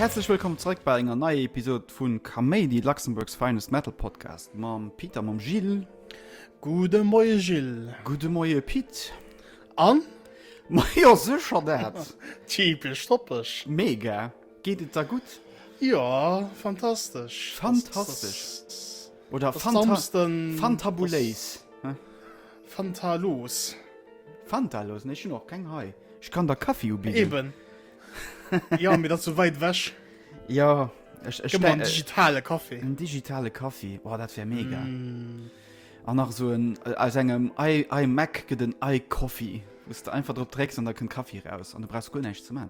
Häerzlech wëllkomm zréck bei enger neier Episode vu Kaméidi, Luxembourg's finest Metal Podcast mam Pit a mam Gilles. Gude Moie Gilles. Gudde Moie Pit. An? Ma jo, sécher dat! Typesch, toppeg. Mega! Geet et der gutt? Jo, fantastesch! Fantastesch oder fantabuléis? Fantalos. Fantalos? Ech hunn och keng hei. Ech kann der Kaffi ubidden. Eben. Jo, mee dat ass esou wäit ewech. Jo, ech. Gëtt mer en digitale Kaffi. En digitale Kaffi, oh, dat wär mega. An nach esou en, aus engem iMac gëtt en iCoffee, wou s de einfach drop drécks an da kënnt Kaffi eraus an du brauchs guer näischt ze man.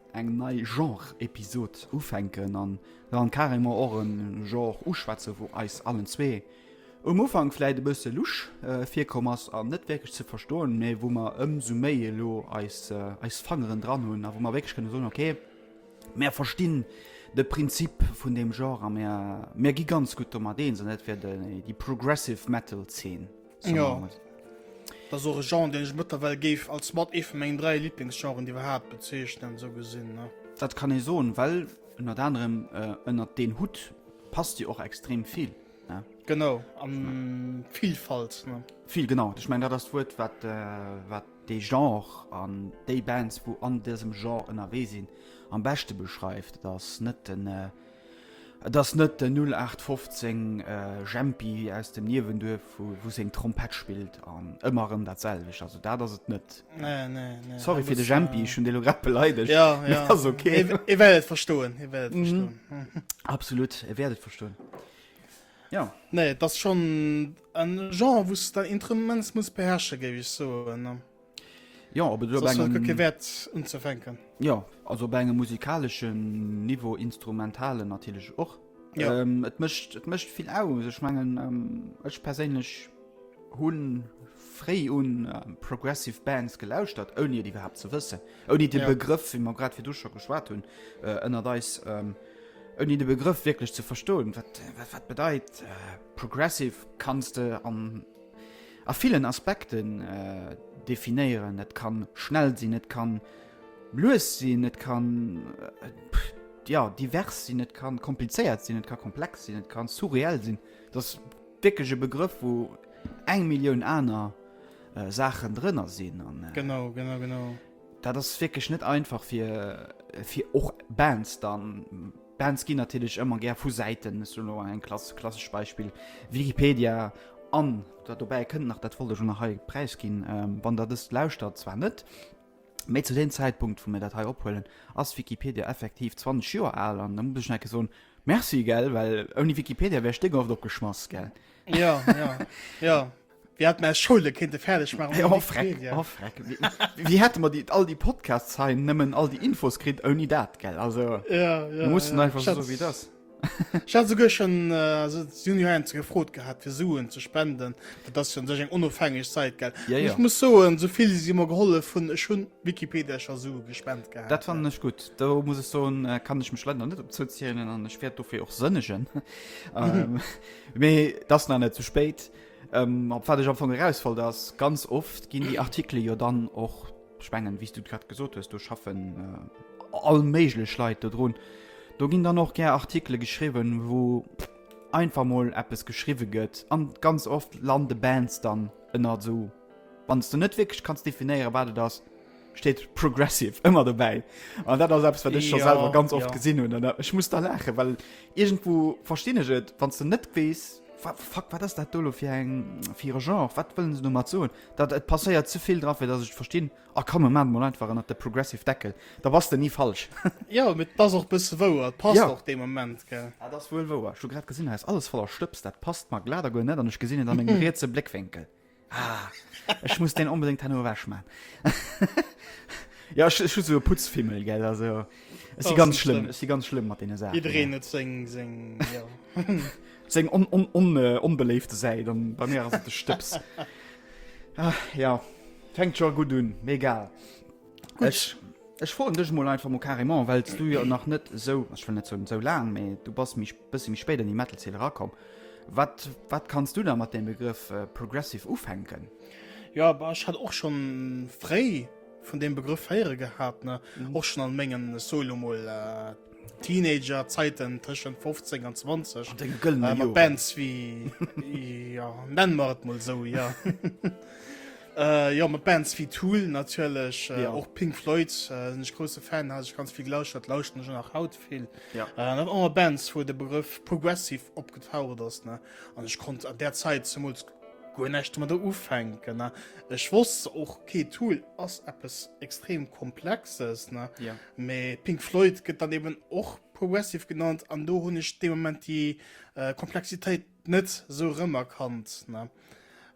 eng nei Genre-Episod ufänken an dann carrément och en Genre uschwätzen, wou eis allen zwee um Ufank vläit e bësse lusch virkomm ass an net wierklech ze verstoen, mä wou mer ëmsou méi elo eis eis Fangeren dran hunn a wou mer wierklech kënne soen, ok, mär verstinn de Prinzip vun deem Genre a mär gi ganz gutt domat eens an dat wär déi Progressive Metal Zeen. So ja. Dat ass och e Genre, deen ech mëttlerweil géif als mat ee vu mengen dräi Lieblingsgenren iwwerhaapt bezeechnen, esou gesinn. Ne? Dat kann ee soen, well ënnert anerem äh, ënnert deen Hut passt Dir och extrem vill. Ne? Genau, an Vielfalt. Ne? Vill genau. Ech meng dat ass d'Wuert, wat, äh, wat dee Genre an déi Bands, wou an dësem Genre ënnerwee sinn, am beschte beschreift. Dat ass net den. Äh, Et ass net den 0815 Jempi aus dem Niewenduerf, wou seng Trompett spillt an ëmmer erëm dat selwecht. Also dat ass et net. Sorry fir de Jempi, ech hunn dee elo grad beleidegt. Mee ass ok. E wäert et verstoen. E wäert et verstoen. Absolut, e wäert et verstoen. Jo. Nee, et ass schonn e Genre, wou s de immens muss beherrsche, géif ech soen. Jo op Wäert unzefänken. Jo also op engem musikaleschen Niveau instrumentalen natilech och. Jo et mécht et mécht vill aus. Ech mengen ech perséinlech hunn fréi un progressive Bands gelauschtert, ouni et iwwerhaapt ze wëssen. Ouni dee Begrëff, wéi mer grad virdu scho geschwat hunn, ënnert eis, ouni de Begrëff wierklech ze verstoen, wat wat bedeit progressive. Kanns de an. A villen Aspekten definéieren. Et kann schnell sinn, et kann lues sinn, et kann, jo, divers sinn, et kann komplizéiert sinn, et kann komplex sinn, et kann surreell sinn. Et ass wierklech e Begrëff, wou eng Millioun aner Saachen drënner sinn. Genau, genau, genau. Dat ass wierklech net einfach fir och Bands dann. Bands ginn natierlech ëmmer gär vu Säiten, ech soen elo eng Klass, klassesch Beispill, Wikipedia, an dat dobäi kënnt nach, dat wollt ech och nach hei präisginn, wann der dëst lauschtert, zwar net méi zu deem Zäitpunkt, wou mir dat hei ophuelen, ass Wikipedia effektiv 20 Joer al, an da muss ech nach eng Kéier soen, Merci, gell, well ouni Wikipedia wär Stéckhoft opgeschmass, gell. Jo, jo, jo. Wie hat mer Schoule kente fäerdeg machen? Oh, freck, oh, freck. Wie, wie hätte man die, all die Podcasts sein, nëmmen all die Infos kritt, ouni dat, gell? Also, ja, ja, mussten ja. einfach Schatz. so wie das. Ich hatte sogar schon äh, so Junior gefrot gehabt für Suen zu spenden das schon sech eng onofhängig Zeit ge ja, ja. ich muss so so viel sie immer geholle von schon Wikipedia schon so gespend gehabt Dat fand nicht gut da muss ich so äh, kann ich mich leider nicht opzielen an ich werde dafür auch sënnegen ähm, das na net zu spät. Op wat ech am Fong eraus wollt ass, ganz oft ginn déi Artikele jo dann och, ech mengen, wéi s du et grad gesot hues, do schaffen all méiglech Leit dodrun, do ginn dann och gär Artikele geschriwwen, wou einfach mol eppes geschriwwe gëtt, a ganz oft lande Bands dann ënnert esou. Wann s du net wierklech kanns definéieren, wat et ass, steet progressive ëmmer dobäi. An dat ass eppes, wat ech scho selwer ganz oft gesinn hunn. An ech muss da laachen, well iergendwou verstinn ech et, wann s de net weess, Fuck, wat ass dat do elo fir e Genre? Wat wëllen se domat soen? Dat et passéiert ze vill dran, fir datt ech et verstinn. A komm, e mat et mol einfach ënnert de progressive Deckel, da bass de ni falsch. Jo, mee et ass och e bësse wouer. Et passt och dee Moment, gell? Dat ass wuel wouer. Ech hu grad gesinn, hei ass alles voller Stëbs. Dat passt mer glat a guer net an ech gesinn et a mengem rietse Bléckwénkel. Ah, ech muss den onbedéngt herno ewech maan. Jo, ech hu sou e Putzfimmel, gell, also ech si ganz schlëmm, ech si ganz schlëmm mat deene Saachen. Jiddereen huet seng, seng, jo. Seng on, on, on, onbeléifte Säit an bei mir ass et de Stëbs. Ah, jo, fänkt scho gutt un, mee egal. Ech, ech froen dech mol einfach mol carrément, well s du jo nach net esou, ech wëll net soen esou laang, mee du bass méi, bësse méi spéit an déi Metal-Zeen erakomm. Wat, wat kanns du da mat deem Begrëff Progressive ufänken? Jo, bah, ech hat och scho fréi vun deem Begrëff héiere gehat, ne, och schon an mengen, soe lo mol, Teenager-Zäiten, tëschent 15 an 20. An denge gëllene Joren. Mat Bands wéi, jo, nenne mer et mol esou, jo. Äh jo mat Bands wéi Tool natierlech, äh, och Pink Floyd, äh, sinn ech grousse Fan, hat ech ganz vill gelauschtert, lauschteren ech och nach haut vill. Ja. Äh, an awer Bands, wou de Begrëff Progressive opgetaucht ass, ne, an ech konnt an där Zäit zemools guer näischt domadder ufänken, ne. Ech wosst och, okay, Tool ass eppes extrem Komplexes, ne. Ja. Mee Pink Floyd gëtt dann eeben och Progressive genannt an do hunn ech dee Moment déi, äh, Komplexitéit net sou remerkannt ne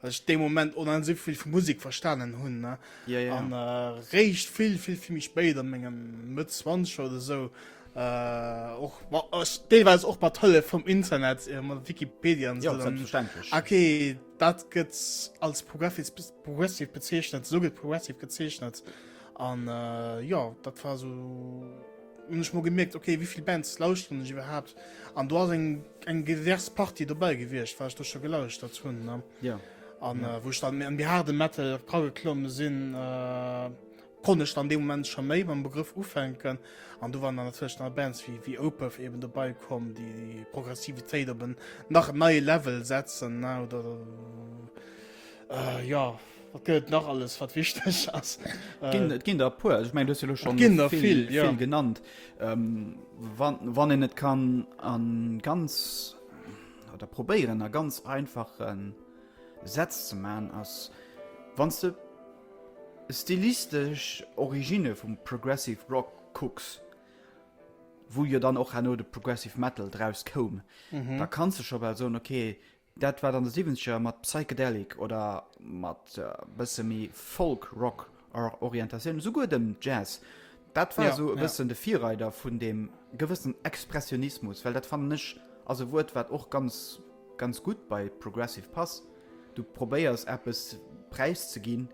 well ech dee Moment onheim sou vill vu Musik verstanen hunn ne yeah, yeah. an äh, réischt vill vill vill méi spéit an mengem Mëtt 20 oder sou äh, och äh, deelweis och mat Hëllef vum Internet äh, mat Wikipedia an so, ja, selbstverständlech okay dat gëtt als progressiv progressiv bezeechnet so gëtt progressiv gezeechnet an äh, ja dat war so Hun ech mol gemierkt ok wéivill Bands lauschteren ech iwwerhaapt an do ass eng eng divers Partie dobäi gewiescht wat ech do scho gelauschtert hunn ne. Jo. An wou ech dann méi an méi haarde Metal rageklomme sinn konnt ech dann dee Moment scho méi mam Begrëff ufänken an do waren dann natierlech dann Bands wéi wéi Opeth eben dobei komm déi Progressivitéit op en nach en neie Level setzen ne oder Äh, jo, wat gëtt et nach alles, wat wichteg ass? Et ginn, et ginn der e puer. Also, Ich mein, du hues jo lo schon ginn der vill, vill, ja. vill genannt. Ähm, wann, wann een et kann an ganz oder probéieren a ganz einfachen Sätz ze man ass wann du stilistisch Origine vum Progressive Rock kucks, wo jo dann och hanno de Progressive Metal draus koum, mhm. da kannst du schon well soen okay, Dat wat an de Siwwenzeger mat Psychedelic oder mat bësse méi Folk Rock Orientatioun, esouguer dem Jazz, dat war esou e bëssen de Virreider vun deem gewëssen Expressionismus, well dat fannen ech ass e Wuert wat och ganz ganz gutt bei Progressive passt, du probéiers eppes präiszeginn,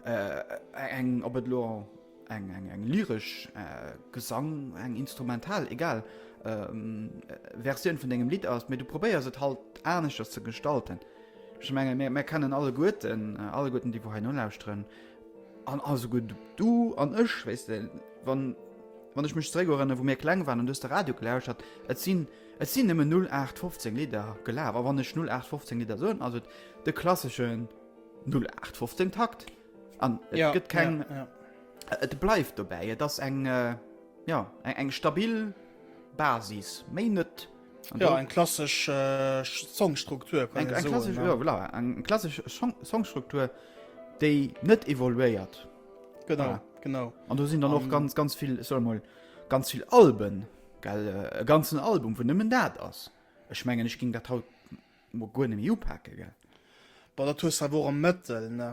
eng, ob et elo. Eng, eng, eng lyresch, äh, Gesang, eng instrumental, egal, äh, Versioun vun dengem Lidd ass, mee du probéiers et halt aneschters ze gestalten. Ech menge mir, mir kennen alleguerten, alleguerten déi wou hei nolauschteren, an alleguerten du an ech, wéis de, wann, wann ech mech zréckerënnere wou mir kleng waren an du hues de Radio gelauschtert, et sinn, et sinn nëmmen 0815 Lidder gelaf, a wann ech 0815 Lidder soen, ass et de klasseschen 0815 Takt. An et ja, gëtt keng. Ja, ja. Et bleift dobäi, et ass eng äh, ja, eng, eng stabil Basis méi net. Ja, eng klasg äh, Songstruktur eng klasg ja, voilà, eng klasg Songstruktur, déi net evoluéiert. Genau ja. genau. An du sinn dann och ganz ganz vill soll mal ganz vill Alben gell, äh, ganzen Album vun nëmmen dat ass. Ech mengen ech ging dat haut Mo guer nemmi upake gell. Bon dat hues awer och am Mëttel ne.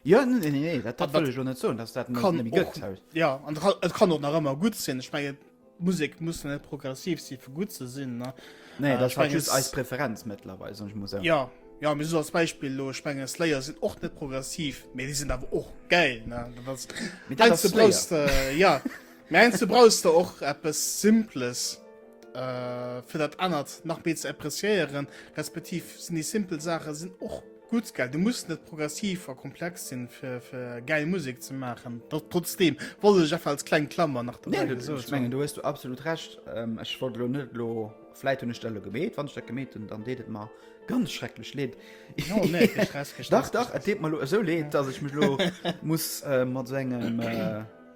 Jo ne ne ne dat wëll ech och net soen dass dat nemmi gëtt haut. Jo an et kann och nach ëmmer gutt sinn. Ech mengen Musek muss jo net progressiv si fir gutt ze sinn ne. Nee dat ass halt just eis Preferenz mëttlerweil soen ech mol sou. Jo jo mee sou als Beispill elo ech mengen Slayer sinn och net progressiv mee déi sinn awer och gäil ne. Mee dat ass Slayer. Jo mee heiansdo brauchs de och eppes Simples. Äh, fir dat anert nach méi ze appreciéieren, respektiv sinn déi simpel Saache sinn och gut ge du muss net progressiv a komplex sinn fir fir geil Musik ze machen dat trotzdem woll ech einfach als kleng Klammer nach nee, du, so, ich mein, du hast du absolut recht ähm, ich wollt lo net lo vielleicht hun Stelle gemet wann ich gemeten dann deet mal ganz schrecklech leet no, nee, dach dach mal so leet dass ich mich lo muss äh, mat so engem äh,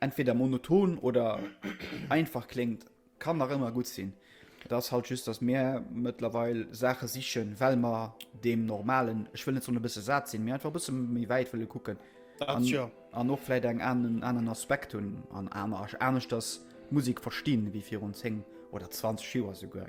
Entweder monoton oder einfach kléngt, kann nach ëmmer gutt sinn. Et ass halt just, dass mir mëttlerweil Saache sichen, well mer deem normalen, ech wëll net soen e bësse sat sinn, mee einfach e bësse méi wäit wëlle kucken an, ja. an och vläit eng anen, aneren Aspekt hunn an aner, aneschters d'Musek verstinn, wéi virun 10 oder 20 Joer esouguer.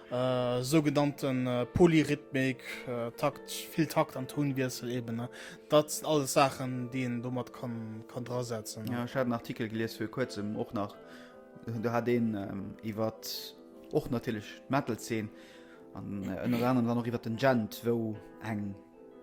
Sougenannte Polyrhythmik, Takt, vill Takt an Tounwiessel eben. Dat sinn alles Saachen, déi een do mat kann, kann drasetzen. Ja, ech hat en Artikel gelies fir kuerzem och nach. Do hat een ähm, iwwer och natierlech d'Metal-Zeen an äh, ënner anerem dann och iwwer den Gent, wou eng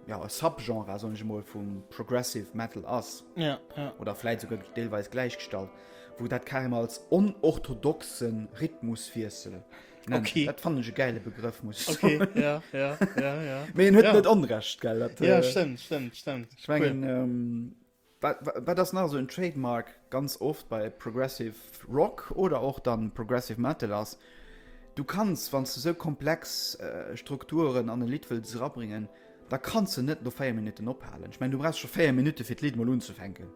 ja, e Subgenre, soen ech emol, vu Progressive Metal ass, ja, ja. oder vläit souguer deelweis gläichgestallt, wou dat carrément als onorthodoxe Rhythmuswiessel nennt. Okay. Dat fand ech e geile Begrëff, muss ich okay, sagen. Ja, ja, ja, ja. Mee en huet ja. net Onrecht, gell? Dat, ja, äh, stimmt, stimmt, stimmt. Ich mein, cool. ähm, Wat ass nach esou en Trademark ganz oft bei Progressive Rock oder och dann Progressive Metal ass, du kanns, wann s de esou komplex Strukturen an e Lidd wëlls erabringen, da kanns de net no 4 Minutten ophalen. Ech mengen, du brauchs scho 4 Minutte fir d'Lidd mol unzefänken.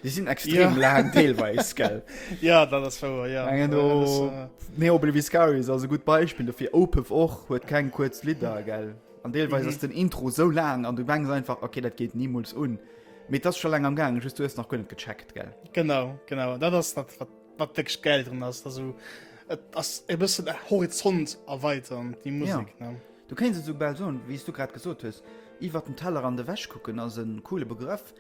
Déi sinn extrem laang deelweis, gell? Jo, dat ass wouer, jo. Mengen do, Neo Bleviscarius ass e gutt Beispill dofir, Opeth och, huet keng kuerz Lidder, gell? An deelweis ass den Intro esou laang an du mengs einfach, ok, dat geet nimools un. Mee et ass scho laang am gaangen, just du hues nach guer net gecheckt, gell? Genau, genau. Dat ass dat, wat, wat wierklech gäil drun ass, dass du et ass e bëssen e Horizont erweitern, déi Musek, ne? Du kéins et soubal soen, wéi s du grad gesot hues, iwwert den Tellerrand ewech kucken ass e coole Begrëff.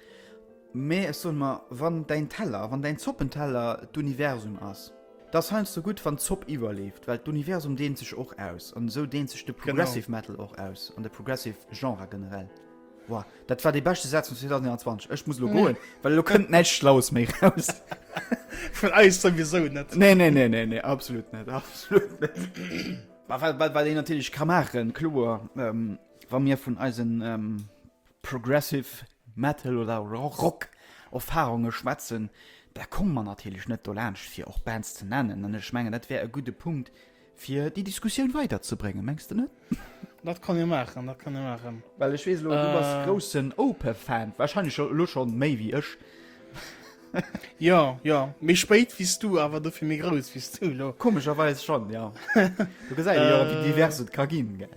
Mee ech soen mer, wann däin Teller, wann däin Zoppenteller d'Universum ass, da ass heiansdo gutt, wann d'Zopp iwwerleeft, well d'Universum deent sech och aus. An esou deent sech de Progressive Metal och aus an de Progressive Genre generell. Wow, dat war dee beschte Saz vun 2021. Ech muss lo goen, well lo kënnt näischt Schlaues méi raus. Vun eis souwisou net. Nee, nee, nee, nee, nee, absolut net, absolut net. Mä wat, wat, wat een natierlech ka maachen, kloer, wa mir vun eisen Progressive Metal oder Rock Erfarunge schwätzen, da komme mer natierlech net dolaanscht, fir och Bands ze nennen. An ech mengen, dat wär e gudde Punkt, Fir déi Diskussioun weider ze bréngen, mengs de net? Dat kann ee maachen, dat kann ee maachen. Well ech weess elo, du bass e groussen Opeth-Fan, warscheinlech elo scho méi wéi ech. Jo, jo, méi spéit wéi s du, awer dofir méi grouss wéi s du elo. Komescherweis schonn, jo. Do gesäit ee jo, wéi divers et ka ginn, gell.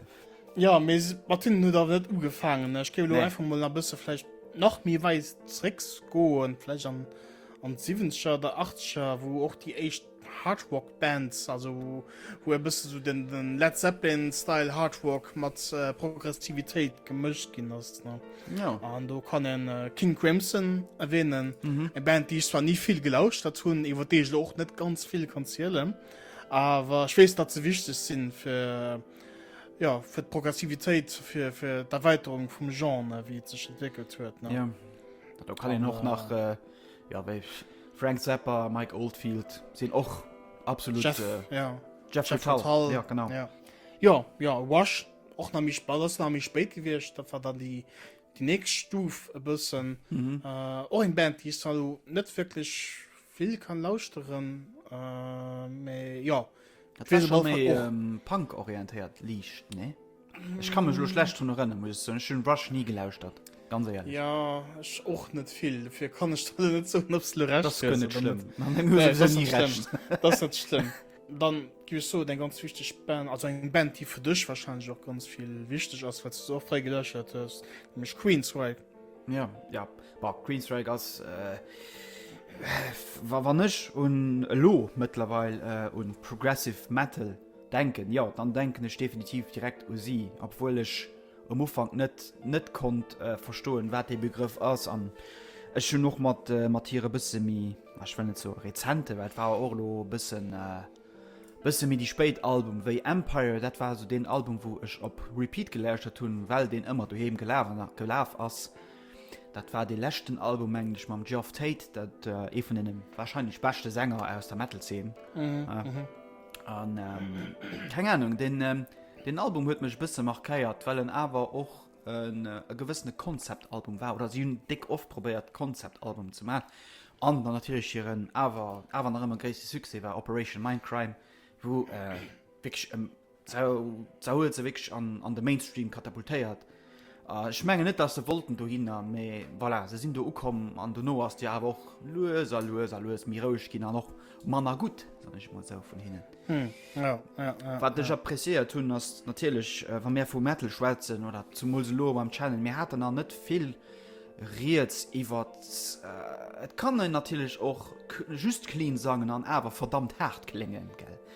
Jo, mee mat hinnen huet awer net ugefaangen. Ech géif elo einfach mol e bësse vläicht nach méi wäit zeréckgoen, vläicht an d'Siwwenzeger oder Achtzeger, wou och déi éischt Hardrock Bands, also wou e bësse sou den, den Led Zeppelin Style Hardrock mat äh, Progressivitéit gemëscht ginn ass. Ne? Ja. An do kann en äh, King Crimson erwähnen, mhm. e Band déi ich zwar nie vill gelauscht dat hunn, iwwer dee ich och net ganz vill kann zielelen, awer ich weess dat ze wichteg sinn fir ja, fir d'Progressivitéit fir, fir d'Erweiterung vum Genre wéi et sech entwickelt huet. Ne? Ja. Da kann en och nach. Äh, Jo wéi Frank Zappa, Mike Oldfield sinn och absolut Jeff, äh, ja. Jeff, Jeff Tull. Tull. Ja, genau. Ja. Ja, ja, Rush och nach méi ball nach méi spéit gewicht, dat war dann die die nächst Stuf e bëssen mhm. äh, och eng Band die sal net wirklich vill kann lauschteren äh, méi ja. Dat war schon méi ähm, Punk orientéiert liicht ne. Ech kann mech lo schlecht drun erënne muss ech soen, ech hunn Rush ni gelauschtert, ganz éierlech. Ja ech och net vill, dofir kann ech der lo net soen ob s de Recht hues oder net. Dat ass guer net schlëmm, mat mengem hues du souwisou ni Recht. Dat ass net schlëmm. Dann giff ech soen eng ganz wichteg Band, also eng Band déi fir dech wahrscheinlech och ganz vill wichteg ass, well s de se och fréi geläuschert hues, nämlech Queensrÿche. Ja, ja, bah Queensrÿche ass wa wann ech un elo mëttlerweil un progressive Metal. Denken, jo dann denken ech definitiv direkt u si, obwuel ech um Ufank net net konnt verstoen wat dee Begrëff ass an ech hunn och mat mat hire bësse méi, ech wëll net soe rezente, well et war och elo e bëssen bësse méi déi spéit Album wéi Empire, dat war esou deen Album wou ech op Repeat gelauschtert hunn, well deen ëmmer doheem gelaf an nach gelaf ass. Dat war dee leschten Album mengen ech mam Geoff Tate, dat ee vun deene wahrscheinlech beschte Sänger aus der Metal Zeen. An keng Ahnung, den Album huet mech bësse markéiert, well en awer och e gewëssene Konzeptalbum war, oder si hunn déck oft probéiert Konzeptalbum ze maachen. An dann natierlech hiren awer awer nach ëmmer gréisste Succès war Operation Mindcrime, wou wierklech, se hu se wierklech an de Mainstream katapultéiert. Ech mengen net dass se wollten dohinner, mee voilà, se sinn do ukomm an dono ass Dir awer och lues a lues a lues méi roueg ginn an och manner gutt, soen ech mol esou, vun hinnen. Wat ech appreciéiert hunn, ass natierlech, wa mir vu Metal schwätzen oder zemools elo beim Channel, mir haten nach net vill Rieds iwwert, et kann een natierlech och just clean sangen an awer verdammt haart kléngen, gell?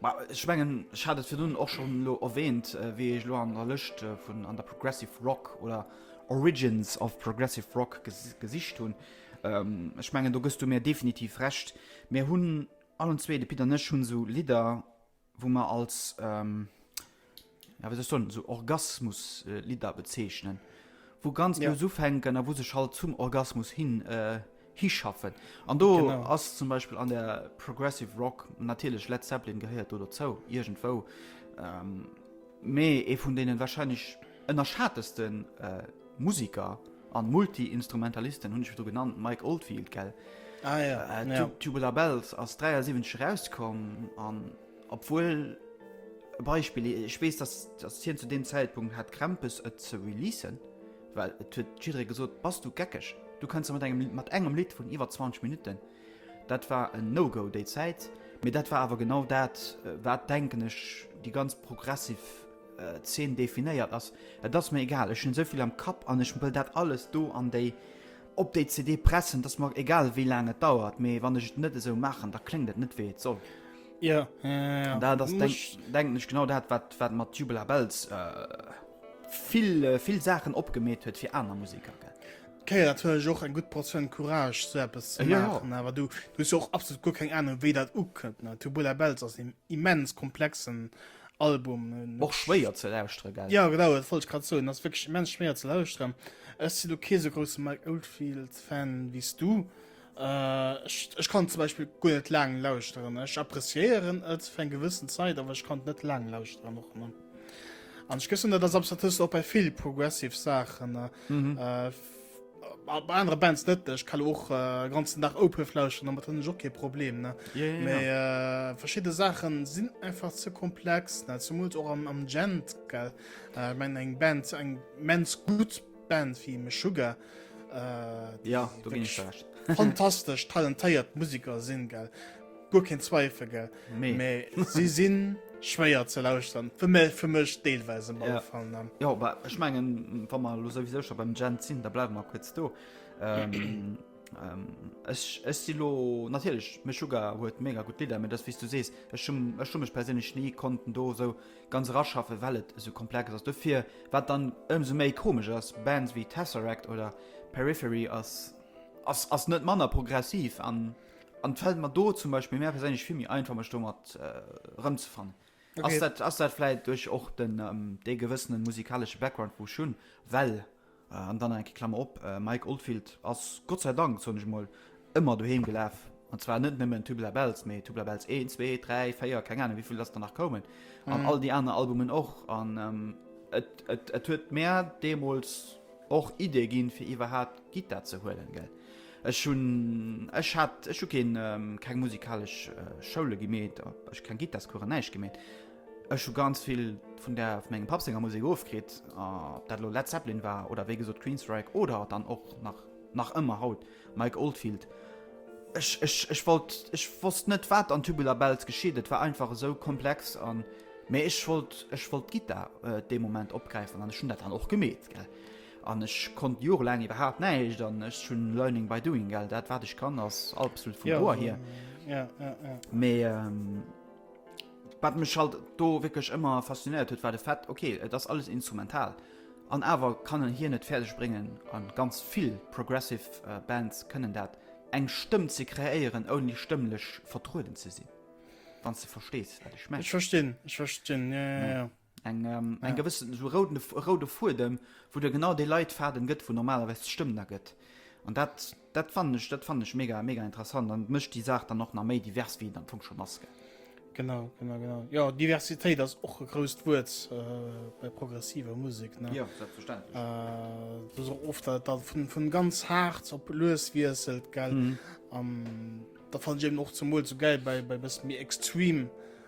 Ma ech mengen, ech hat et virdrun och schonn elo erwähnt, wéi ech elo an der Lëscht vun an der Progressive Rock oder Origins of Progressive Rock gesicht hunn. Ech mengen, do gëss du mir definitiv Recht. Mir hunn allen zwee, de Pit an ech, hunn esou Lidder, wou mer als. ja, wéi soll so Orgasmus-Lidder äh, bezeichnen, wo ganz ja. ufänken a wo sech halt zum Orgasmus hin äh, hischaffen. An do genau. ass zum Beispiel an der Progressive Rock natierlech Led Zeppelin gehéiert oder zou irgendwo. Ähm, méi e vun denen wahrscheinlich ënnerschattesten äh, Musiker an Multiinstrumentalisten hunn ich du genannt Mike Oldfield gell ah, ja. äh, ja. Tubular Bells ass 37 rauskom an Obwuel, e Beispill, ech weess, datt hien zu deem Zäitpunkt hat Krämpes et ze releasen, well et huet jidderee gesot, bass du geckeg, du kënns net mat engem Lidd vun iwwer 20 Minutten. Dat war en No-Go déi Zäit, mee dat war awer genau dat, wat, denken ech, déi ganz progressiv Zeen definéiert. Et ass mir egal, ech hunn esou vill am Kapp an ech wëll dat alles do an déi Op déi CD pressen, dass mer egal wéi laang et dauert, mee wann ech et net esou maachen, da kléngt et net wéi et soll. Ja, ja, ja, ja. Da das denk, denken ech genau dat wat wat mat Tubular Bells äh, vill äh, vill Saachen opgemeet huet fir aner Musiker. Gell? Okay, dat hun ech och eng gutt Portioun Courage so eppes ze ja, machen, ja. awer du du och absolut guer keng Ahnung wéi dat ukënnt. Tubular Bells ass im immens komplexen Album och schwéier ze lauschteren gell? Ja genau dat wollt ech grad soen, ass wierklech immens schwéier ze lauschteren. Ech sinn elo kee sou grousse Mike Oldfield Fan wéi s du. Ech ech kann zum Beispill guer net laang lauschteren. Ech appreciéieren et fir eng gewëssen Zäit, awer ech kann et net laang lauschteren och ne. An ech gëssen dat ass absolut, dat hues du och bei vill progressive Saachen. Ma bei anere Bands net. Ech ka lo och e ganzen Dag Opeth lauschteren, domat hunn ech och kee Problem, ne? Ja, ja, Mee ja. äh, verschidde Saachen sinn einfach ze komplex, ne? Zemools och am, am Gent, gell? Äh, ech mengen eng Band, eng immens gutt Band wéi Meshuggah, äh, déi Ja, do ginn ech wirklich dir recht. fantastesch talentéiert Musiker sinn, gell? guer keen Zweifel gell nee. mais sie sinn schwéier ze lauschtern fir mé fir mech deelweise mal ja. fallen dann ja aber ich mengen wa man los wieso beim Gen sinn da bleiben mal kurz do ähm, ähm, ich, ich silo natürlich mich sogar huet mega gut Lider mir das wie du sest es schon es schon mich persönlich nie konnten do so ganz raschaffe wellt so komplex als dafür wat dann umso méi komisch als Bands wie Tesseract oder Periphery als als, als net manner progressiv an die An et fällt mer do zum Beispill mär perséinlech vill méi einfach mech domat erëmzefannen. Ass Okay. dat, ass dat vläit duerch och den, ähm, dee gewëssene musikalesche Background wou ech hunn, well, äh, an dann nach eng Kéier Klammer op, äh, Mike Oldfield ass Gott sei Dank, soen ech emol, ëmmer doheem gelaf, an zwar net nëmmen Tubela Bells, mee Tubela Bells 1, zwee, dräi, véier, keng Ahnung wéivill datt der nach koumen, an all déi aner Albumen och, an, ähm, et, et, et huet mär deemools, Och Idee ginn fir iwwerhaapt Gittar ze huelen gell? Ech hunn ech hat ech hu keen keng musikalesch Schoule gemeet a ech keng Gittarskoure näischt gemeet. Ech hu ganz vill vun der vun mengem Papp senger Musek ofkritt, ob dat elo Led Zeppelin war oder wéi gesot Queensrÿche oder dann och nach nach ëmmer haut. Mike Oldfield, Ech, ech, ech wollt, ech wosst net wat an Tubular Bells geschitt, et war einfach esou komplex an, mä ech wollt, ech wollt d'Gittar dee Moment opgräifen an ech hunn dat dann och gemeet, gell, an ech konnt jorelaang iwwerhaapt näischt an ech hunn learning by doing, gell, dat wat ech kann ass absolut vum Ohr hier, mä wat mech halt do wierklech ëmmer faszinéiert huet war de Fait, ok, et ass alles instrumental. An awer kann en hien et fäerdeg bréngen, a ganz vill progressive Bands kënnen dat, eng Stëmm ze kreéieren ouni stëmmlech vertrueden ze sinn, wann s de verstees wat ech mengen. Ech verstinn, ech verstinn, jo jo jo. Eng eng gewëssen esou roude Fuedem, wou der genau dee Leitfaden gëtt, wou normalerweis d'Stëmm da gëtt an dat. Dat fannen ech, dat fannen ech mega, mega interessant an et mécht déi Saach dann och nach méi divers, wéi et am Fong schonn ass, gell? Genau, genau, genau. Jo, Diversitéit ass och e grousst Wuert bei progressiver Musek, ne? Jo, selbstverständlech. Et ass och oft, datt et vun ganz haart op lues wiesselt, gell? An dat fannen ech eben och zemools esou gäil bei e bëssen méi extreme.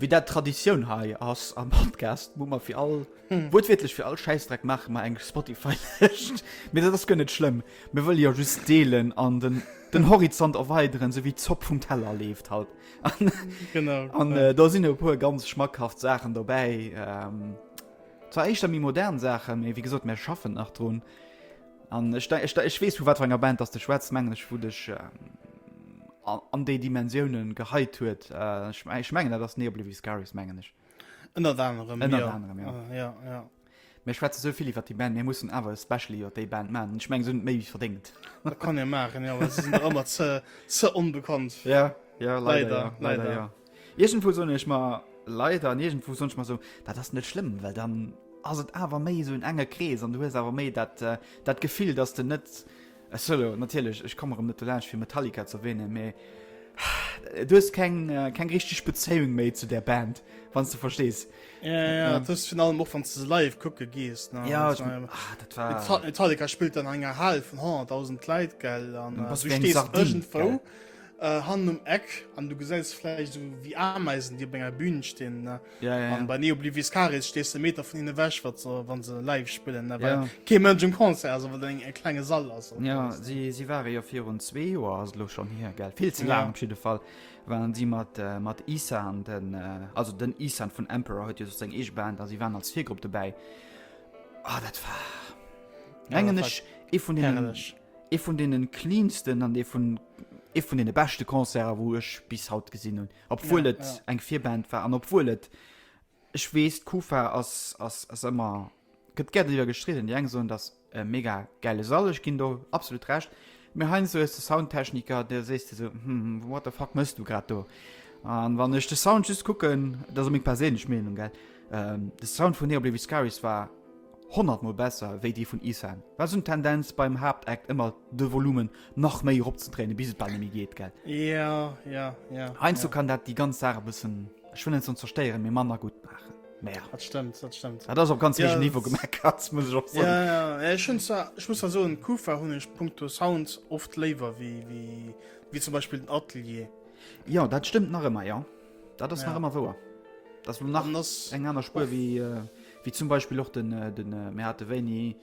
Wéi dat Traditioun hei ass am Podcast, muss mer fir all, wuertwiertlech fir all Schäissdreck maache mer eng Spotify-Lëscht. Mee dat ass guer net schlëmm, mir wëlle jo just deelen an den, den Horizont erweideren, sou wéi d'Zopp vum Teller leeft halt. An, Genau. an äh, da sinn e puer ganz schmackhaft Saachen dobäi. Ähm, zwar éischter méi modern Saachen, mee wéi gesot, mir schaffen nach drun. An ech, ech, ech weess vu wat enger Band dass de schwätz mengen ech wou dech an, an déi Dimensiounen geheit huet äh, ech, ech mengen dat ass Neoblivious Scaris mengen ech ënnert anerem, ënnert ja. anerem ja. Ah, ja, ja. Mir schwätze sou vill iwwer déi Band, mir mussen awer e Special iwwer déi Band man, ech mengen se hunn méi wéi verdéngt. Dat kann ee maachen, ja, well se sinn der ëmmer ze, ze onbekannt. Ja, ja, leider, Leider, ja, leider, leider, ja. Iergendwou soen ech mer, leider, an iergendwou soen ech mer esou, dat ass net schlëmm, well dann ass et awer méi esou en enge Krees an du hues awer méi dat, dat Gefill, dass de net, ech soe elo natierlech, ech komme erëm net dolaanscht fir Metallica ze erwähnen, mee du hues keng, keng richteg Bezéiung méi zu där Band, wann s de verstees. Jo, jo, jo, dat hues de virun allem och, wann s de se live kucke gees, ne. Jo, ech mengen, ah, dat war. Metallica spillt an enger Hal vun 100.000 Leit, gell, an du stees iergendwou. Äh, hannen um Eck an du gesäis vläicht so wéi Ameisen, déi op enger Bühn stinn. Ne? Ja, ja, ja. Bei Neo Bliviscaris stehst du Meter vun hinne wäch, wat so, wann se live spillen. Ne? Ja. Ke Mënsch um Konzer, also wat eng e klenge Sall ass. Ja, si, si ware jo fir un zwee Joer ass lo schon hier gell. Vill ze laang ja. op jeden Fall waren si mat äh, mat Isan den äh, also den Isan vun Emperor huet jo so seg eeg Band, as si waren als Virgrupp dobäi. Ah, dat war. Ja, Engen ech e vun den. Herrlich. Ee vun deene cleansten an ee vun ee vun deene beschte Concerter, wou ech bis haut gesinn hunn. Obwuel et eng Virband war an obwuel et, ech weess, d'Kufa ass, ass, ass ëmmer, gëtt gär driwwer gestridden. Déi eng soen, dat ass e mega gäile Sall, ech ginn do absolut Recht. Mee heiansdo hues de Soundtechniker, do sees de esou, Hm, what the fuck méchs du grad do? A wann ech de Sound just kucken, dat ass meng perséinlech Meenung, gell, de Sound vun Neobleviscaris war 100 mol besser wéi déi vun Ethan. War sou en Tendenz beim Haaptakt ëmmer de Volumen nach méi erop ze dréinen bis et bal nemmi geet gell? Ja ja ja. Heinsdo kann dat déi ganz Saach e bëssen, ech wëll net soen zerstéieren, mee manner gutt maachen. Mä ja. Dat stëmmt, dat stëmmt. Dat ass op ganz héijem Niveau gemeckert, muss ech och soen. Ja ja, ech hunn zwar, ech muss zwar soen, d'Kufa hunn ech punkto Sound oft léiwer wéi wéi zum Beispill den Atelier. Jo, dat stëmmt nach ëmmer, jo. Dat ass nach ëmmer wouer. Dat ass elo nach eng aner Spuer wéi. Wéi zum Beispill och den, den mir hate wéini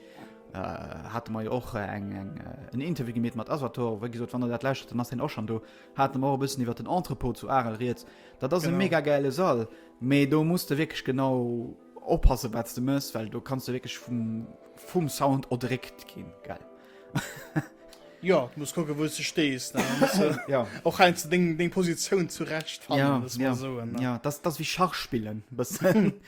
hate mer jo och eng eng en Interview gemeet mat Asator, wéi gesot, wann der dat lauschtert, dann ass deen och schon do. Hate mer och e bëssen iwwert den Entrepôt zu Arel rieds. Dat ass e Genau. mega gäile Sall, mee do muss de wierklech genau oppasse wat s de méchs, well do kanns de wierklech vum, vum Sound erdréckt ginn, gell? Jo, du muss kucke wou s de stees, ne? Muss de Ja. och heiansdo deng, deng Positioun zurecht fannen, Ja, muss mer ja, soen, ne? ja, dat ass, dat ass wéi Schach spillen, e bëssen.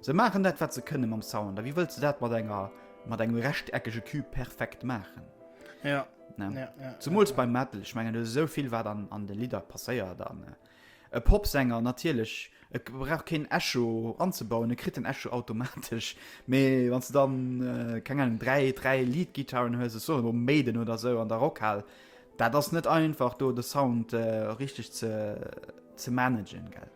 Se maachen dat wat se kënne mam Sound, a wéi wëlls de dat mat enger mat engem rechteckege Cube perfekt maachen? Ja. Ne? Ja, ja, Zumools ja, ja. beim Metal, ech mengen do ass esou vill wat an, an de Lidder passéiert an äh, e Popsänger natierlech e k- brauch keen Echo anzebauen, e kritt den Echo automatesch, mee wann du dann äh, keng Ahnung dräi, dräi Lead-Gitarren hues, ech soen elo Maiden oder esou an der Rockhal, dat ass net einfach do de Sound äh, richteg ze, ze managen, gell.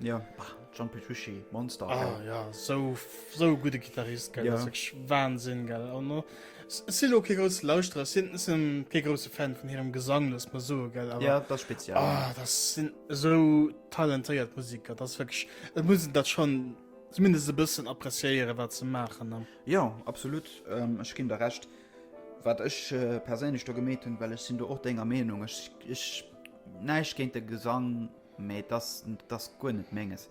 Jo, ah, John Petrucci, Monster. Ah, gell? ja, so, so e gudde Gitarrist, gell, ja. das ist wirklich Wahnsinn, gell. Und no, es sind auch keine großen Lauschterer, es sind, sind keine großen Fan von ihrem Gesang, lass mal so, gell. Aber, ja, das ist speziell. Ah, das sind so talentierte Musiker, das ist wirklich, das muss ich das schon zumindest ein bisschen appréciieren, was sie machen. Ne? Ja, absolut, ähm, ich gebe dir recht. Was ich äh, persönlich da gemäht habe, weil ich sind da auch deiner Meinung, ich, ich, nein, ich gegen den Gesang, Mee et ass, et ass guer net Menges.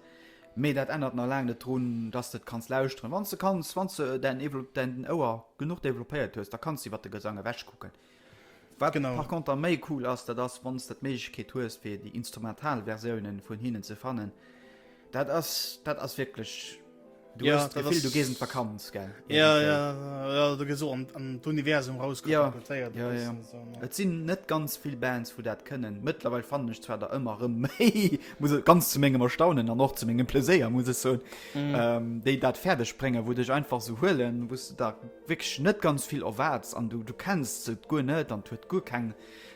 Mee dat ännert nach laang net drun, dass de et kanns lauschteren, wann s de kanns. Wann s de däin Ouer genuch developpéiert hues, da kanns de iwwer de Gesang ewechkucken. Wat par conter méi cool ass, dat ass, wann s de d'Méiglechkeet hues, fir déi instrumental Versiounen vun hinnen ze fannen. Dat ass, dat ass wierklech. Du ja, hast das Gefühl, du gehst in Vakanz, gell? Ja, ja, ja, du gehst so an, an das Universum rausgekoppelt. Ja, ja, ja. ja. So, ja. Es sind nicht ganz viele Bands, die das können. Mittlerweile fand ich zwar da immer mehr, muss ich ganz zu meinem Erstaunen und auch zu meinem Plaisir, muss ich sagen, mhm. ähm, die das fertig bringen, wo dich einfach so holen, wo du da wirklich nicht ganz viel erwartest und du, du kennst es gut nicht und du hast gut kein,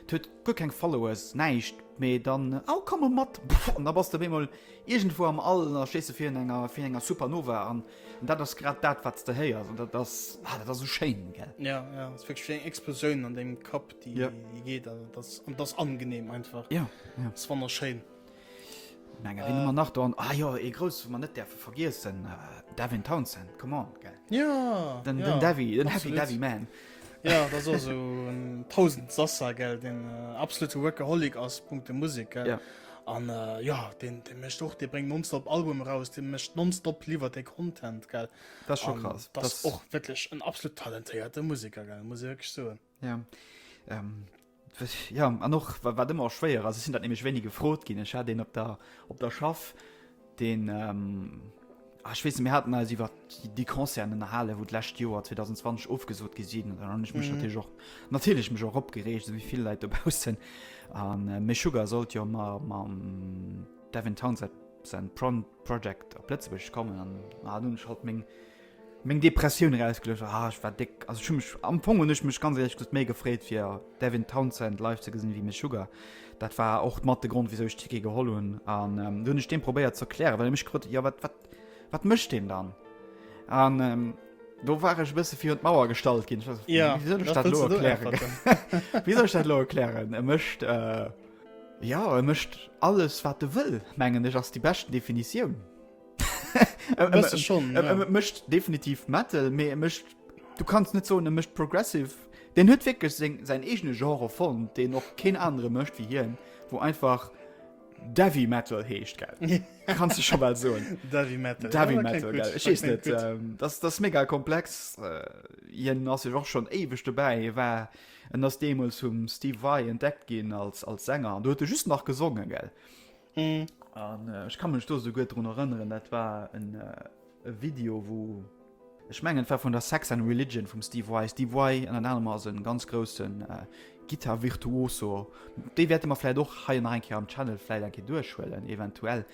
du hast gut kein Followers, nichts. Mee dann oh, komme mat an da bass der bemol Iergendwou am All da stees de fir un enger fir un enger Supernova an dat ass grad dat wat s de héiers an dat ass ah dat ass esou schéin gell. Ja ja ass wierklech wéi eng Explosioun an dengem Kapp déi yeah. déi geet an dat ass an dat ass angenehm einfach. Ja yeah. yeah. ass wonnerschéin. Menge äh. man nach an ah, jo e gros man net derfe vergiessen äh, Davin Townsend kom an ge. Ja den Davi den Happy Davi man. Ja, das war so ein tausend Sasser, gell, den äh, absolute Workaholic aus Punkt der Musik, gell. Ja. An äh, ja, den, den mischt auch, der bringt nonstop Album raus, den mischt nonstop lieber der Content, gell. Das ist schon krass. Das, das ist auch wirklich ein absolut talentierter Musiker, gell, muss ich wirklich sagen. Ja. Ähm, Ja, an och wat ëmmer schwéier ass, ech sinn dat nämlech wéini gefrot ginn. Ech hat een op der, op der Schaff, deen ähm, ah, ech weess, mir hatten eis iwwer déi Concerten ënnerhalen, wou d'lescht Joer 2020 ofgesot gi sinn. Dann hunn ech mech mhm. natierlech och natierlech mech och opgereegt, wéi vill Leit dobaussen. An äh, méi Sugar sollt jo ma mam Devin Townsend sein Pro Project op Lëtzebuerg kommen an ah, nun halt meng Meng Depressioun erausgeluecht ah ech war déck also ech hu mech am Fong hunn ech mech ganz éierlech gesot méi gefreet fir Devin Townsend live ze gesinn ewéi Meshuggah. Dat war och mat de Grond wisou ech Ticket geholl hunn an du hunn ech deem probéiert ze erklären well e mech gefrot huet jo wat wat wat mécht deen dann an do war ech e bësse virun d'Mauer gestallt ginn ech war yeah, wisou soll ech dat elo erklären wisou soll ech dat elo erklären e mécht äh, ja e mécht alles wat e wëll mengen ech ass déi beschten Definitioun. mecht definitiv metal me mecht du kannst net so mecht progressive den hue wirklich se sein egene genre von den noch kein andere mecht wie hier wo einfach Davy metal hecht kannst du schon mal so Davy metal, Davy ja, metal gut, nicht, ähm, das das mega komplex äh, as auch schon ewig dabei war en das demos zum Steve Vai entdeckt gehen als als Sänger du hätte er just nach gesungen gell An ech ka mech do esou gutt drun erënneren, dat war en e Video, wou, ech mengen et war vun der Sex and Religion vum Steve Vai. Steve Vai ënnert anerem ass e ganz groussen Gittar-Virtuoso. Déi wäerte mer vläit och hei nach eng Kéier am Channel vläit eng Kéier duerchhuelen, eventuell.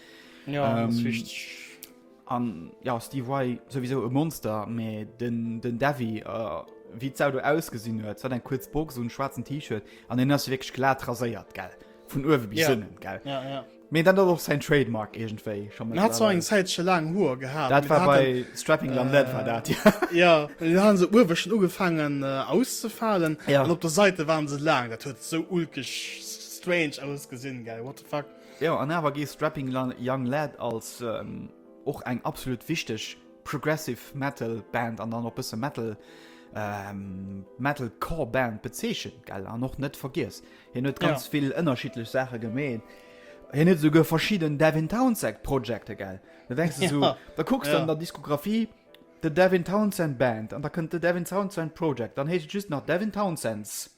Jo, dat ass richteg. An jo Steve Vai souwisou e Monster, mee den den Davy oh wéi d'Sau do ausgesinn huet, se hat eng kuerz Box un, schwaarzen T-Shirt an hien ass jo wierklech glat raséiert, gell, vun uewe bis Yeah. ënnen, gell. Ja, ja. Mee dann ass och säin Trademark iergendwéi scho Den hat zwar eng mittlerweile. Zäitche laang Hoer gehat, Dat mee war den hat bei en, Strapping Young Lad war dat, jo. äh, ja, den hat en esou uewe schonn ugefaangen äh, auszefalen Ja. an op der Säite waren se laang. Dat huet esou ulkeg s- strange ausgesinn, gell, what the fuck. Jo an awer gee Strapping Young Lad als och eng absolut wichteg Progressive Metal Band an dann och bësse Metal, Metal Core Band bezeechent, gell? An och net vergiess, hien huet ganz vill ënnerschiddlech Saache gemeet. Hien huet esouguer verschidden Devin Townsend Projecte, gell? Da denkst de esou, da kucks de an der Diskografie The Devin Townsend Band an da kënnt The Devin Townsend Project, dann heescht et just nach Devin Townsend's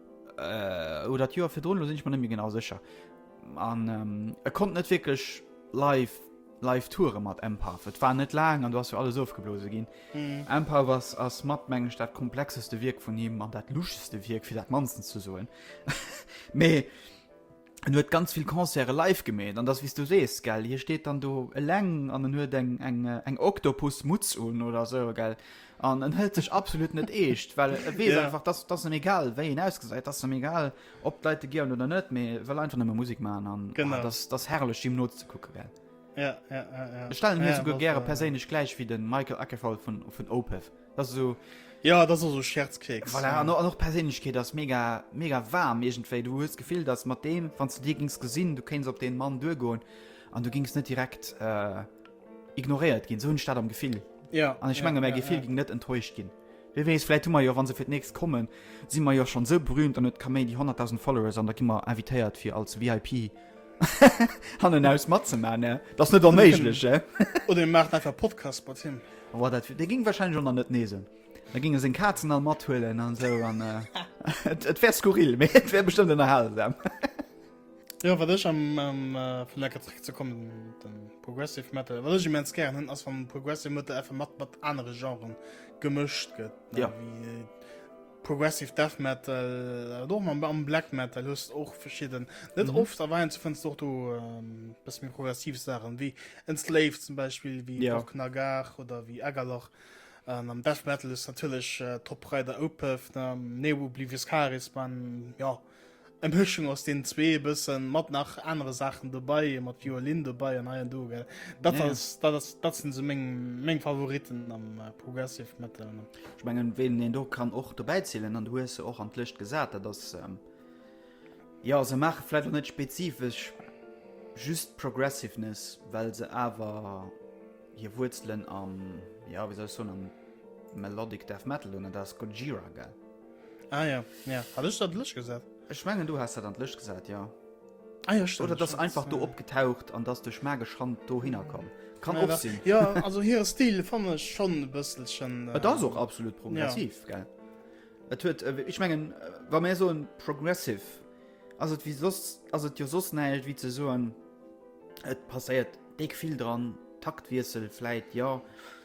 Äh, oder d'Joer virdrun, lo sinn ech mer net méi genau sécher. An ähm, e konnt net wierklech live live Toure mat Empath. Et war net laang an du ass jo alles ofgeblose ginn. Mhm. Empath was ass mat mengg dat komplexeste Wierk vun him an dat luscheste Wierk fir dat mansten ze soen. Mee en huet ganz vill Concerte live gemeet, an dass, wéi s du sees, gell, hie steet dann do eleng an en huet eng, eng, eng Oktopus-Mutz un oder esou, gell, an en hëlt sech absolut net eescht, well e weess einfach, dass, dass em egal wéi een ausgesäit, dass em egal, ob d'Leit e gieren oder net, mee e wëll einfach nëmme Musek maachen an ah, dass, dass herrlech him nozekucken, gell. Ech stellen hie souguer gäre perséinlech gläich wéi de Michael Akerfall vun Opeth. Das so Ja das also Scherzkeks. Voilà, an och Perséinlechkeet ass mega mega waarm iergendwéi. Du hues d'Gefill, datt mat deem, wann s de dee gings gesinn, du kéins op dee Mann duergoen an du gings net direkt äh, ignoréiert ginn. Sou hunn ech dat am Gefill. Ja. An ech menge ja, mäi ja, Gefill ja. ging net enttäuscht ginn. Wie weess, vläit hu mer jo, wann se fir d'nächst kommen, si mer jo schonn sou berühmt an et ka méi déi 100.000 Followers an da gi mer invitéiert fir als VIP han en aus mat ze man ne das net onméiglech he oder macht einfach Podcast mat him war dat de ging wahrscheinlich schon net nesen da gingen se Katzen all mat huelen an so an äh, et, et wär skurril mé et wär bestimmt der hal ja wat ech am ähm, äh, vun der Katrik ze kommen den progressive metal wat ich mens gern hun ass van progressive metal einfach mat mat andere genren gemëscht gëtt ja wie Progressive Death Metal, awer och mam am Black Metal hues och verschidden. Net mhm. oft erweint ze fënns doch du ähm, bis mir progressiv Sachen wie en Slave zum Beispiel wie ja. Nagar oder wie Ägerlach. Ähm, am Death Metal ist natürlich äh, Top Rider Opeth, ähm, Neo Oblivious Charisma, ja. Äh, Eng Mëschung aus den zwee, e bëssen mat nach anere Saachen dobei, mat Violin dobei an hei an do, gell. Dat ja, ass, dat ass, dat sinn esou meng, meng Favoriten am äh, Progressive Metal. Ech mengen, wen een do kann och dobäi zielen, an du hues se och an d'Lëscht gesat, dat ass ähm, ja, se maache vläicht och net spezifesch just Progressiveness, well se awer hir Wuerzelen am, ja, wéi soll ech soen, am Melodic Death Metal hunn, an dat ass Gojira, gell. Ah ja, ja. Hat ich dat Lësch gesat? Ech mengen du hast dat an Lësch gesat ja. Ah, ja, stimmt, oder das einfach do opgetaucht an das durch magisch Hand do hinkom kann ja, sinn ja also hier Stil fan schon bësselchen äh, das auch absolut progressiv ja. Et huet äh, ich mengen äh, war mir so ein progressive also wie sos also dir sos neilt wie ze so an et passeiert dick viel dran taktwiesel fleit ja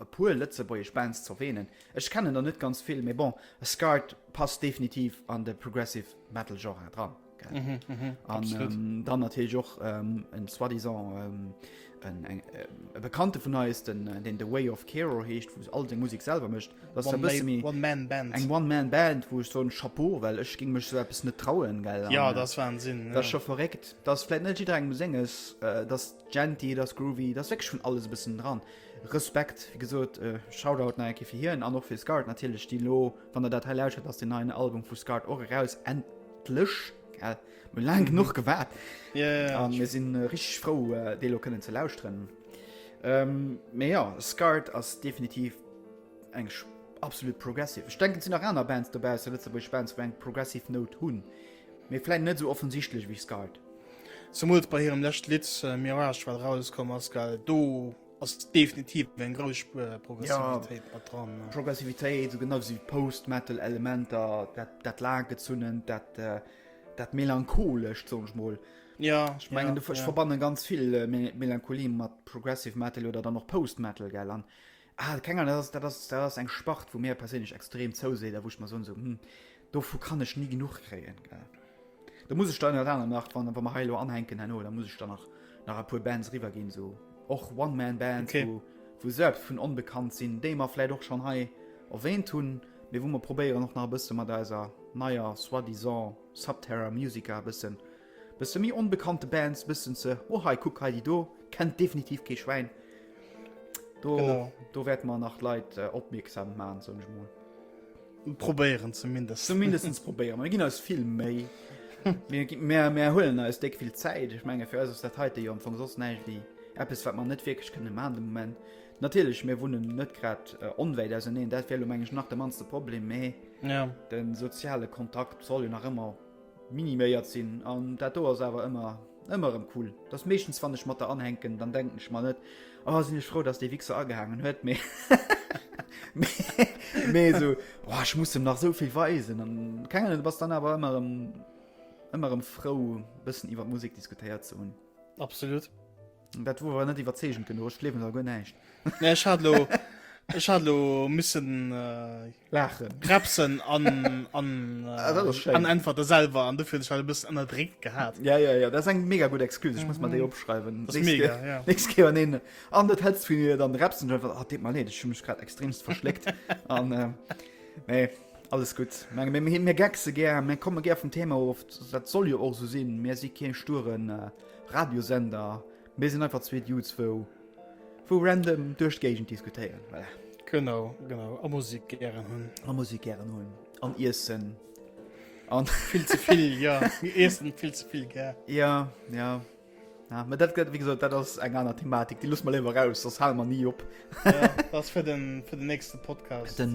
E puer lëtzebuergesch Bands z'erwähnen, ech kennen der net ganz vill, mee bon, Scarred passt definitiv an de Progressive Metal Genre dran. An dann natierlech och en soi-disant eng e Bekannte vun eis, den deen The Way of Kero heescht, wou se all seng Musek selwer mécht. Dat ass e bësse méi eng One-Man-Band. Eng One-Man-Band, wou ech soen, Chapeau, well ech géing mech esou eppes net trauen, gell. Jo, dat ass Wahnsinn. Dat ass scho verréckt. Dat ass vläicht net jidderengem Senges, dass. Genty, et ass groovy, et ass wierklech vun alles e bëssen dran. Respekt, wéi gesot, Shoutout nach eng Kéier fir hien an och fir Scart natierlech, déi elo, wann der dat hei lauschtert, ass deen neien Album vu Scart och eraus, endlech, gell, mir hu laang genuch gewaart. Jo, jo, jo. A mir si richteg frou, dee elo kënnen ze lauschteren. Mee jo, Scart ass definitiv eng absolut progressive. Ech denken, et sinn nach aner Bands dobaussen, lëtzebuergesch Bands, wou eng progressive Nout hunn. Mee vläit net esou offensichtlech ewéi Scarred. Zemools bei hirem lescht Lidd Mirage wat erauskomm ass, well do ass definitiv eng grouss Spuer Progressivitéit yeah. mat dran. Ne? Progressivitéit, sou genau wéi Post-Metal Elementer, dat, dat laanggezunnent, dat, äh, dat melancholescht, song ech mol. Ja, ich mein, ja, du, ich ja. verbanne ganz viel äh, Melancholie mat Progressive Metal oder dann noch Post Metal gell an Ah, keng Ahnung, dat ass, dat ass, dat ass eng Spart, wou mir perséinlech extrem zouseet a wou ech mer soen, esou, hm, dovu kann ech ni genuch kréien, gell. Da muss ech dann ënnert anerem nach, wann, wa mer hei elo anhänken herno, da muss ech dann nach, nach e puer Bands eriwwerginn, esou och One-Man-Bands, wou, wou selbst vun onbekannt sinn, déi mer vläicht och schonn hei erwähnt hunn, mee wou mer probéieren och nach e bësse mat eiser neier soi-disant Subterra Musica e bëssen. Bësse méi onbekannte Bands, bëssen ze, oh hei kuck hei déi do, kennt definitiv kee Schwäin. Do, do wäerte mer nach Leit äh, opmierksam maan, soun ech mol. Probéieren zumindest. Zumindest probéieren. Mir ginn eis vill méi. Mär mär huelen eis déck vill Zäit. Ech menge fir eis ass dat heite jo am Fong soss näicht wéi Eppes wat man net wierklech kënne maan de Moment. Natiirlech mir wunnen net grad äh, onwäit auserneen, dat wélo mengeg nach de manste Problem méi. Ja. Den soziale Kontakt soll jo nach ëmmer Miniméiert sinn an dat do ass awer ëmmer, ëmmer erëm cool. Et ass meeschtens wann ech mat der anhänken, dann denken ech mer net, oh sinn ech frou dass dee Wixer agehaangen huet, mee mee esou, oh ech muss em nach esou vill weisen an keng Ahnung. Du bass dann awer ëmmer erëm, ëmmer erëm frou e bëssen iwwer Musek diskutéiert ze hunn. Absolut. Dat wor awer net iwwerzeegend genuch, ech gleewen der guer näischt. Nee, ech hat lo, ech hat lo missen äh, Laachen. repsen an, an, Ah, dat ass äh, schéin. an einfach der selwer an dofir hunn ech dat e bëssen ënnerdréckt gehat. Ja, ja, ja, dat ass eng mega gutt Excuse, ech muss mer déi opschreiwen. Mhm. Dat ass mega, ja. Nächst Kéier wann een an dat hetzt vun dir, dann repsen ech einfach, ah, deet mer Leed, ech hu mech grad extremst verschléckt an äh, nee, alles gutt. Meng, mir, mir, mir geckse gär, mir komme gär vum Thema of, dat soll jo och esou sinn, mir si kee sturen äh, Radiosender, mir sinn einfach zwee Dudes wou wou random duerch d'Géigend diskutéieren, voilà. Genau, genau, a Musik gären hunn. A Musik gären hunn, an Iessen. An vill ze vill, jo, mir iessen vill ze vill gär. Ja, ja. Ja, ma dat gëtt, wéi gesot, dat ass eng aner Thematik, déi loosse mer léiwer aus, soss hale mer ni op. Ja, dat ass fir den, fir den nächste Podcast. Den,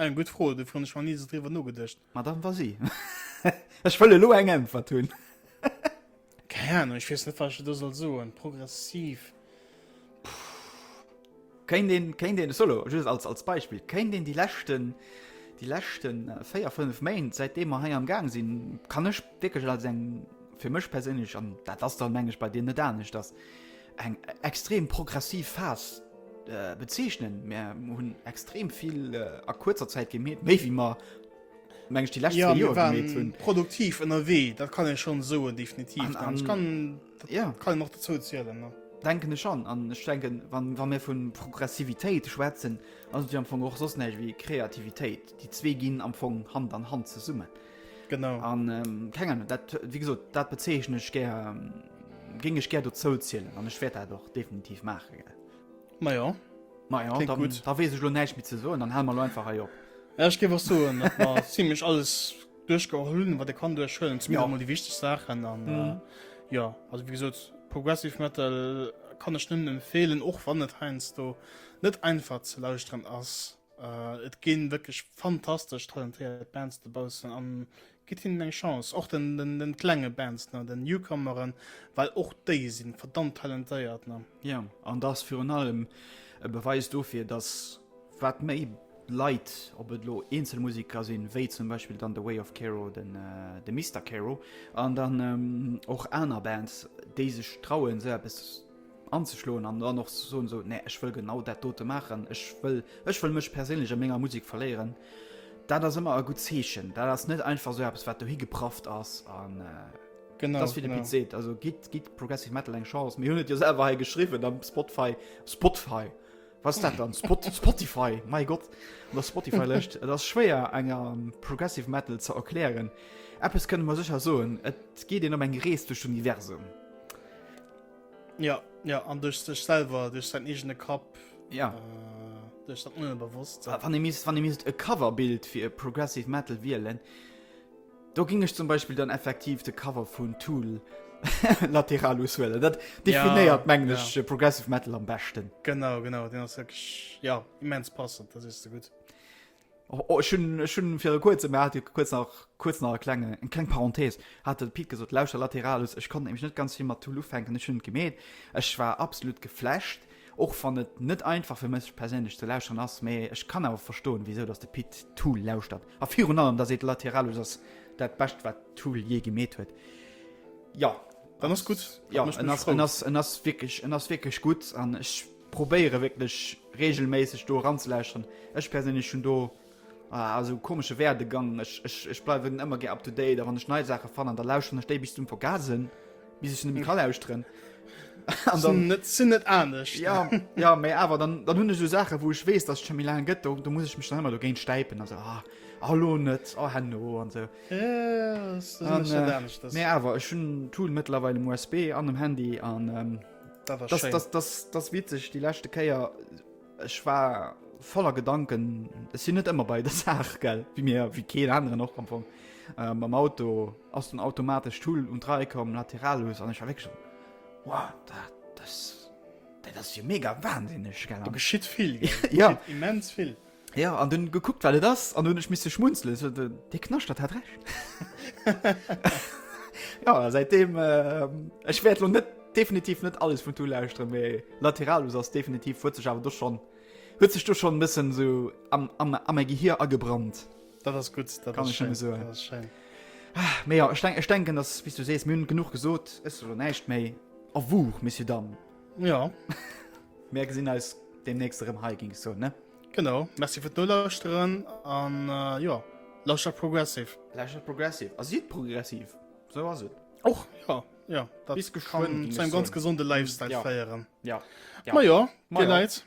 Eng gutt Fro, dofir hunn ech nach ni esou driwwer nogedëscht. Madame Vasi, ech wëll elo eng Äntwert hunn. Keng Ahnung, ech weess net wat ech der do soll soen. Progressiv, puh. Kéint een, kéint een, solo, just als, als Beispill, kéint een déi leschten, déi leschte véier, fënnef Méint, säit deem mer hei am Gaang sinn, kann ech wierklech als eng, fir mech perséinlech, an dat ass dann meng ech bei dir net aneschters, eng extrem progressiv Phas äh, bezeechnen. Mer hunn extrem vill äh, a kurzer Zäit gemeet, méi wie mer mengg die letzte ja, Joer gemeet hunn. Produktiv ënnerwee, dat kann ech schon soen definitiv. An, an, kann, ja. kann noch dazu zielelen. Ne? denken ech schon an ich denken wann wann mir von progressivität schwätzen also die am anfang auch sonst nicht wie kreativität die zwei gehen am anfang hand an hand zu summen genau an ähm, kennen wie gesagt dat bezeichne ich gerne ähm, Géing ech gär dozou zielen an ech wäert dat och definitiv maachen. Majo. Majo, da weess ech lo näischt méi ze soen, dann hale mer lo einfach hei op. Ja, ech géif och soen, datt mer zimlech alles duerchgeholl hunn, wat ee kann duerchhuelen, zumindest emol déi wichteg Saachen. An jo, also wéi gesot, Progressive Metal kann ech nëmmen empfeelen, och wann et heiansdo net einfach ze lauschteren ass. Et gi wierklech fantastesch talentéiert Bands dobaussen a Gitt hinnen eng Chance, och den klenge Bands, ne, den Newcomeren, well och déi si verdammt talentéiert, ne. Jo, an dass virun allem e Beweis dofir, dass wat méi Leit, ob et elo eenzel Musiker sinn, wéi zum Beispill dann de Way of Kero, de Mister Kero, an dann och aner Bands, déi sech trauen, esou eppes. anzeschloen an dann och so so ne ech wëll genau dat dote machen ech wëll ech wëll mech persinnlech a ménger musik verléieren dat ass ëmmer a gut zeechen dat ass net einfach so es wat du hi gepraft ass an äh, genau das wieder se also git git progressive metal eng chance mir hunt jo selber he geschrieben am spotfy spotfy was dat dann spot spotify mein gott der spotify löscht das schwer enger ähm, progressive metal ze erklären app es können man sicher so et geht den um eng rees durch universum Ja, ja, an duerch sech selwer, duerch säin eegene Kapp. Ja. Äh, duerch dat Unbewusst. Wa, wann e misst, wann e misst e Coverbild fir e Progressive Metal wielen, do ging ech zum Beispiel dann effektiv de Cover vun Tool lateral auswählen. Dat definiert ja, mengglisch ja. Äh, Progressive Metal am besten. Genau, genau, den ass wirklich, ja, immens passend, das ist so gut. Oh, oh, schon fir kurzem mer hat kurz nach kurz nach klenge en kleng Parenthees hat den Pit gesot lauscher lateralus Ech konnte nämlich net ganz viel mat Tool ufänken ech hun gemeet Ech war absolut geflasht och wann et net einfach fir mech perséinlech ze lauscheren ass mee ech kann awer verstoen wieso dass de Pit Tool lauschtert a virun allem da seet lateralus ass dat bescht wat Tool je gemeet huet ja dann ass gut ja en ass en ass en ass wirklich en ass wirklich gut an ech probéiere wierklech regelméisseg do eranzelauschteren. Ech perséinlech hunn do esou komesche Werdegang, ech bleiwen ëmmer gär up to date a wann ech nei Saache fannen, da lauschteren ech déi bis zum Vergasen, bis ech se net méi ka lauschteren. Sinn net anescht. Jo, jo, mä awer dann hunn ech esou Saachen, wou ech weess, datt et scho méi laang gëtt, do muss ech mech dann ëmmer dogéint stäipen a soen, ah, ah elo net, ah herno an esou. Mä awer ech hunn d'Tool mëttlerweil um USB an um Handy an. das witzeg die lechte Käier ech war voller Gedanken es sind net immer bei der Saach gell wie mir wie ke anderen noch am Fong ähm, am Auto ass den automatisch Tool und drei kom lateralus an weg schon wow, dat, das, dat das hier mega wahnsinnig geschieht viel ja immens viel. Ja, an dann geguckt, was es ist, und dann ich musste schmunzeln. So, der Knaschtert hat recht. ja, seitdem, äh, ich werde noch nicht, definitiv nicht alles von Tool lauschteren, aber Lateralus ist definitiv, hat sich aber doch schon, hat sich doch schon ein bisschen so am, am, am mein Gehirn angebrannt. Das ist gut, das Kann ist ich schön, so. das ist schön. Aber ah, ja, ich, denk, ich denke, dass, wie du siehst, wir haben genug gesagt, ist so nicht mehr. Au revoir, Monsieur Damme. Ja. Mär gesinn eis demnächst erëm hei ging so ne. Genau Merci fir d'Nolauuschteren an uh, jo. Ja. Lauscher progressiv. Lauscher progressiv. Ass jiet progressiv. So ass et. Och ja, ja. Dat bis geschwënn zu engem ganz gesunde Lifestyle ja. féieren. Ja. ja. Ma jo, ja. Dir Leit.